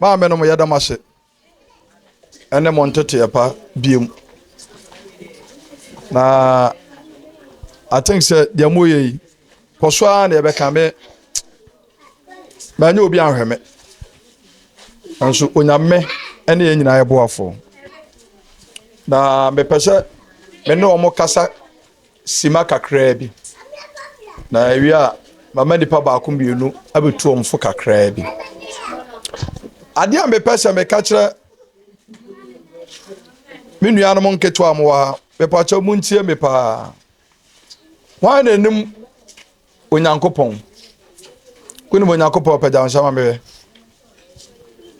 Maame nom yɛda mo ase ɛne mo nteteɛ pa biem na I think sɛ deɛ mo yɛ yi kɔ so ara na yɛbɛka me manyɛ obi anhwɛ me nso onyame ɛne yɛn nyinaa yɛboafo na mepɛ sɛ me ne wɔn kasa Simma kakraa bi, na awie a mama nipa baako mmienu abɛtu wɔn fo kakraa bi. Adeɛ a mepɛ sɛ meka kyerɛ me nuanom nketewa mo wɔ ha, mepɛ akyɛ mu ntie me paa. Wɔn na anim Onyankopɔn. Wonim Onyankopɔn pɛgya nsa ma mehwɛ.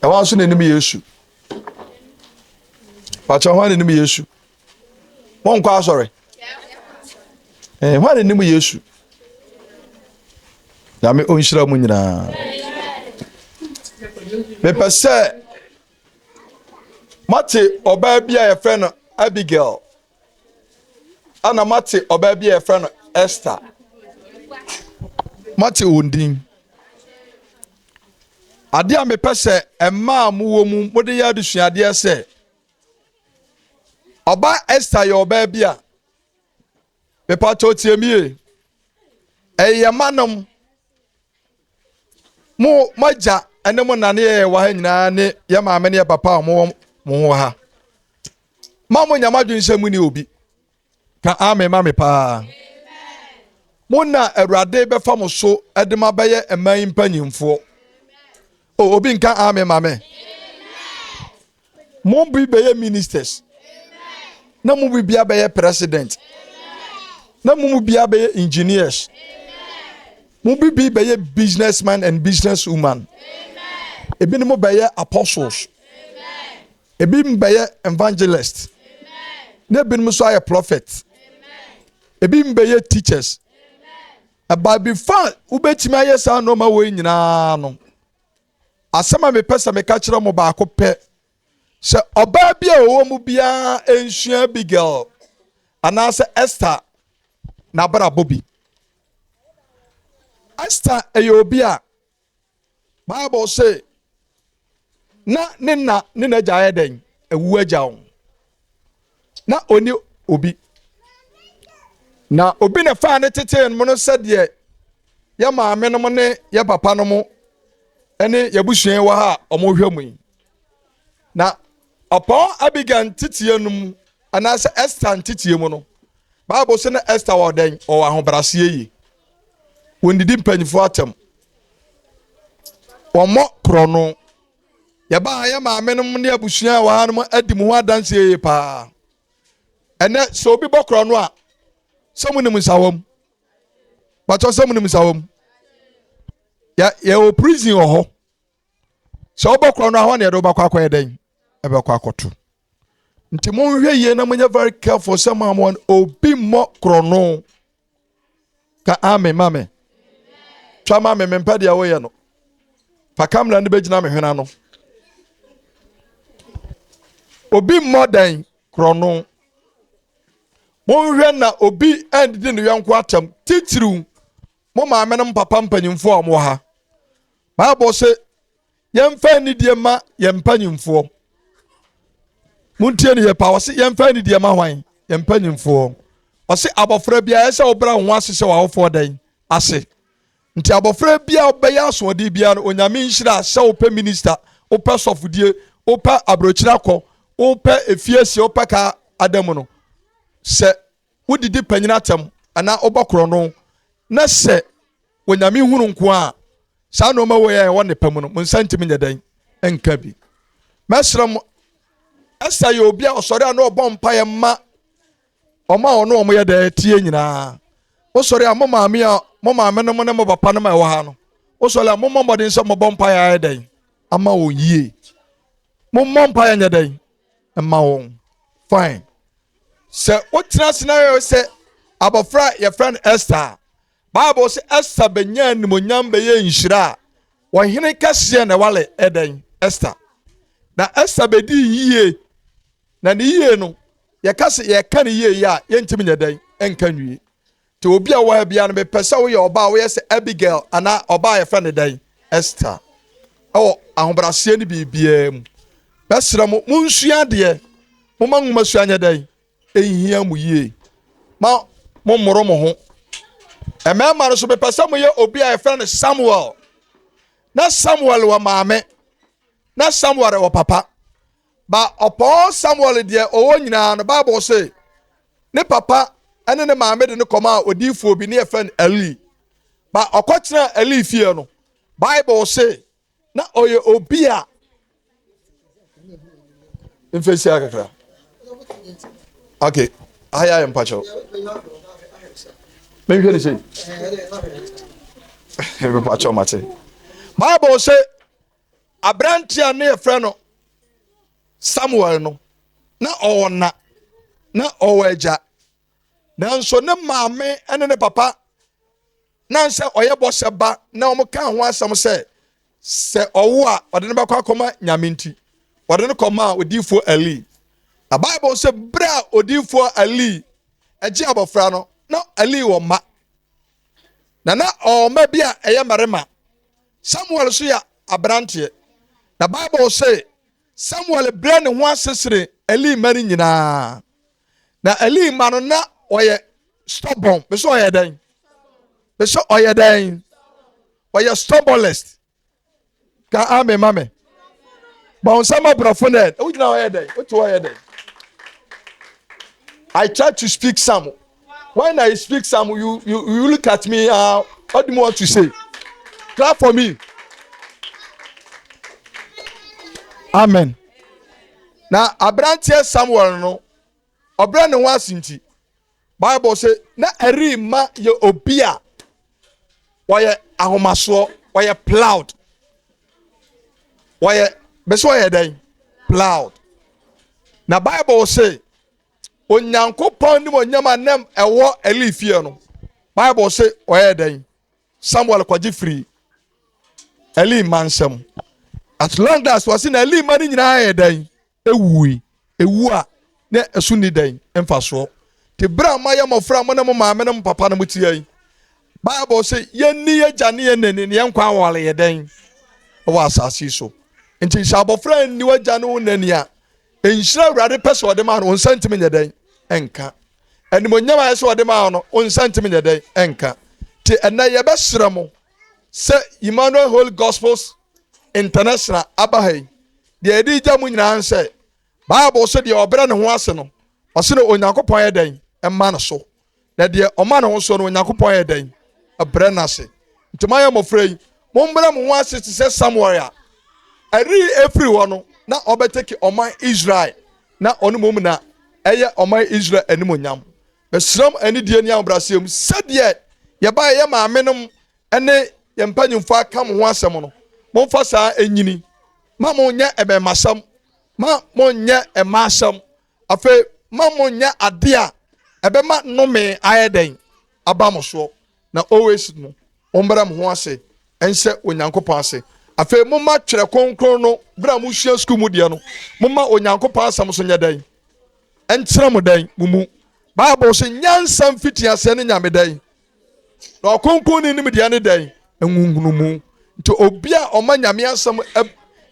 Ɛwɔ nso na anim Yesu. Pakyɛ wɔn na anim Yesu. monkɔ asɔre eh, hwan ne nim yesu nyame ɔnhyira mu nyinaa mepɛ sɛ mate ɔbaa bi a yɛfrɛ no abigail ana mate ɔbaa bi a yɛfrɛ no esther mate wɔn din adeɛ a mepɛ sɛ mmaa mowɔ mu mode yɛ adesuadeɛ sɛ ɔbaa esther yɛ ɔbaa bi a mepatɔ tie mi yie ɛyɛ ma nom mo mo agya ne mo nane yɛ wɔ ha nyinaa ne yɛ maame ne yɛ papa a wɔn wɔ mo wɔ ha ma mo nyama adwene sɛ mo ni obi. ka amen ma me paa mo na awurade bɛfa mo so de ma bɛyɛ mmaa yi mpanyinfoɔ o obi nka amen ma me mo bi bɛyɛ ministers na mo bi bia bɛyɛ president na mo mu bia bɛyɛ engineers mo bi bi bɛyɛ businessman and businesswoman ebinom bɛyɛ apostles Ebi mbɛyɛ evangelist. Na ebinom so ayɛ prophet. Ebi mbɛyɛ teachers. By bi fa wobɛtumi ayɛ saa nnoɔma wɔ nyinaa no asɛm a mepɛ sɛ meka kyerɛ mo baako pɛ sɛ ɔbaa bi a ɔwɔ mu biara nsua abigail anaasɛ esther n'abrabɔ bi esther ɛyɛ obi a bible se na ne na ne n'agya yɛ dɛn awu agya wo na ɔni obi na obi na faa ne tetee mu no sɛdeɛ yɛ maame nom ne yɛ papa nom ne yɛbusua wɔ ha a wɔhwɛ mu yi na ɔpɔn abigail nteteɛ no mu anaasɛ esther nteteɛ mu no bible sɛ na esther wɔ dɛn ɔwɔ ahobraseɛ yi wɔdidi mpanyinfoɔ atɛm wɔmmɔ korɔno yɛba ha yɛ maame nom ne abusua a wɔha nom adi mu ho adanseɛ yie paa ɛnɛ sɛ obi bɔ korɔno a sɛ mo nim nsawam bàtɔ sɛ mo nim nsawam yɛ yɛwɔ prison wɔ hɔ sɛ wobɛkorɔ no ahɔ ne ɛde wobɛkɔ akɔyɛ dɛn ɛbɛkɔ akɔto nti monhwɛ yie na monyɛ very careful sɛ mo amoa no obi mmɔ korɔno ka ame ma me twa ma me mempɛ deɛ woyɛ no fa kamera no bɛgyina me hwena no obi mmɔ dɛn korɔno monhwɛ na obi andidi ne yɔnko atam titiriw mo maame no mpapa mpanyimfoɔ a wɔwɔ ha bible se yɛmfa anidie ma yɛn mpanyimfoɔ montie ne yɛ paa ɔse yɛmfa anidie ma hwan yɛn mpanyimfoɔ ɔse abɔfra biara ɛsɛ ɔbra ho ase sɛ w'awofoɔ dɛn ase nti abɔfra biara ɔbɛyɛ asoɔden biara no onyame nhyira sɛ wopɛ minista wopɛ sɔfodie wopɛ aburokyiri akɔ wopɛ efiesie wopɛ ka adamu no sɛ wodidi panyin atɛm anaa wobɔ korɔno na sɛ wɔnyame hunu nko a saa nneɛma wɔ yɛ ɛwɔ ne pɛ mu no mo nsa ntumi nyɛ dɛn nka bi mɛsrɛ mo ɛsɛ yɛ obi a ɔsɔre a na ɔbɔ mpaeɛ ma ɔma a ɔno ɔmo yɛ dɛ tie nyinaa wosɔre a mo maame a mo maame no mo ne mo papa no ma ɛwɔ ha no wosɔre a mommɔ mmɔden sɛ mobɔ mpaeɛ ayɛ dɛn ama wɔn yie mommɔ mpaeɛ nyɛ dɛn ma wɔn fine sɛ wotena ase na yɛ sɛ abɔfra a yɛfrɛ no esther a bible sɛ esther bɛnya animonyam bɛyɛ nhyira a wɔhene kɛseɛ na ɛwale ɛdɛn esther na esther bɛdi yie na ne yie no yɛka sɛ yɛka ne yie yɛ a yɛntumi nyɛ dɛn nka nwie Te obi a ɔwɔ ha biara no mepɛ sɛ woyɛ ɔbaa a woyɛ sɛ Abigail anaa ɔbaa a yɛfrɛ no dɛn Esther ɛwɔ ahobraseɛ ne biribiara mu bɛsrɛ mo monsua adeɛ moma nwoma sua nyɛ dɛn ɛnhia mo yie ma mommoro mo ho mmarima no so mepɛ sɛ moyɛ obi a yɛfrɛ no Samuel na Samuel wɔ maame na Samuel wɔ papa Ba ɔpɔn Samuel deɛ ɔwɔ nyinaa no, Bible se ne papa ne ne maame de no kɔmaa odiifoɔ bi ne yɛfrɛ no Eli. Ba ɔkɔtena Eli fie no, Bible se na ɔyɛ obi a mfehyia kakra. Okay, ayɛ ayɛ mpakyɛw. Menhwɛ ne sei. Mepakyɛw mate. Bible se aberanteɛ a ne yɛfrɛ no samuel no na ɔwɔ na na ɔwɔ agya nanso ne maame ne ne papa na sɛ ɔyɛ bɔhyɛ ba na wɔn ka ho asɛm sɛ sɛ ɔwo a ɔde no bɛkɔ akɔma nyame nti ɔde no kɔma odiifoɔ ali na bible sɛ berɛ a odiifoɔ ali agye abɔfra no na ali wɔ mma na na ɔwɔ mma bi a ɛyɛ mmarima Samuel nso yɛ aberanteɛ, na Bible se, Samuel brɛ ne ho ase sene Eli mma no nyinaa. Na Eli mma no na ɔyɛ stubborn. Bɛ sɛ ɔyɛ dɛn? Bɛ sɛ ɔyɛ dɛn? Ɔyɛ stubbornest. Ka amen ma me. Bɔn sɛ ma borɔfo no ɛ. Wogyina ɔyɛ dɛn? Wote ɔyɛ dɛn? I try to speak some. when I speak some you you you look at me ah uh, what do you want to say clap for me amen na aberanteɛ Samuel no ɔbrɛ ne ho ase nti Bible sɛ na ɛri ma yɛ obi a wɔyɛ ahomasoɔ wɔyɛ plowed wɔyɛ bɛsɛ wɔyɛ dɛn plowed na bible say onyankopɔn ne onyam a nam ɛwɔ eli fie no bible se ɔyɛ dɛn samuel kɔgye firi eli mma nsɛm at long last wɔse na eli mma no nyinaa yɛ dɛn ewui ewu a na ɛso nni dɛn mfasoɔ te berɛ a moayɛ mmɔfra mo ne mo maame ne mo papa no mo teɛ yi bible se yɛnni yɛgya ne yɛn nani ne yɛn nkwa awale yɛ dɛn wɔ asase so nti sɛ abɔfra nni wagya ne wo nani a nhyira awurade pɛ sɛ ɔde maa no wo nsa ntumi nyɛ dɛn nka animonyam ayɛ sɛ ɔde maa no wo nsa ntumi nyɛ dɛn nka nti ɛnɛ yɛbɛsrɛ mo sɛ emmanuel holy gospels international aba ha yi deɛ ɛde gya mu nyinaa sɛ bible sɛ deɛ ɔbrɛ ne ho ase no ɔse ne onyankopɔn yɛ dɛn ɛma no so na deɛ ɔma ne ho soɔ no onyankopɔn ayɛ dɛn brɛ no ase nti moayɛ mmɔfra yi mombrɛ mo ho ase te sɛ samuel a ɛre ɛfiri hɔ no na ɔbɛtɛki ɔman israel na ɔne mom na ɛyɛ ɔman israel animonyam mesrɛ m anidie ne ahobraseɛ mu sɛdeɛ yɛba yɛyɛ maame nom ne yɛn mpanyimfoɔ aka mo ho asɛm no momfa saa ɛnyini ma monyɛ ɛbɛmasɛm ma monyɛ ɛma asɛm Afei ma mo nyɛ adeɛ a ɛbɛma nnome ayɛ dɛn aba mo soɔ, na always no mommrɛ mo ho ase nhyɛ Onyankopɔn ase. Afei momma twerɛ kronkron no berɛ a mosua sukuu mu deɛ no, momma Onyankopɔn asɛm so nyɛ dɛn nkyerɛ mo dɛn mo mu. Bible se nyansa mfitiaseɛ ne Nyame dɛn? na ɔkronkron ne nimdeɛ ne dɛn nhunumu nti obi a ɔma nyame asɛm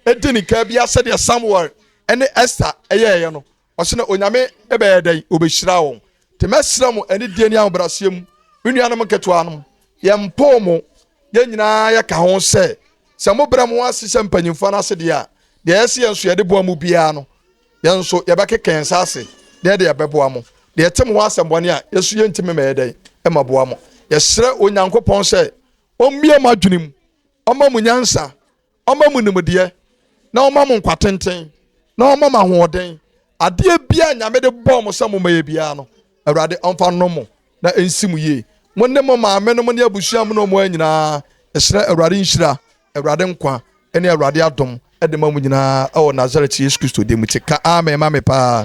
ɛdi ne kaa bi asɛdeɛ samuel ɛne esther ɛyɛɛyɛ no ɔsɛ na onyame ɛbɛyɛ dɛn ɔbɛhyira wɔn nti mɛsrɛ mo ɛne deɛ ne ahobraseɛ mu me nuanom nketewa nom yɛmpoo mo yɛn nyinaa yɛka ho sɛ sɛ mobrɛ mo ase sɛ mpanyimfoɔ no ase deɛ a deɛ ɛsɛ yɛn nso yɛde boa mu biara no Yɛn nso yɛbɛkeka yɛn nsa ase na yɛde yɛbɛboa mo. Deɛ ɛte mo hɔ asɛmmɔne a, yɛn nso yɛntumi mmɛyɛ dɛn ɛma boa mo. Yɛsrɛ Onyankopɔn sɛ ɔmmue mo adwene mu, ɔma mo nyansa, ɔma mo nimdeɛ, na ɔma mo nkwatenten, na ɔma mo ahoɔden. Adeɛ biara Nyame de bɔɔ mo sɛ mommɛyɛ biara no, Awurade ɔmfa nnɔ mo na ɛnsi mo yie. Mo ne mo maame no mo ne abusua mu no mmoa nyinaa. Yɛsrɛ Awurade nhyira, Awurade nkwa ne Awurade adom de ma mo nyinaa wɔ Nasaret Yesu Kristo din mu. Te ka amen ma me paa.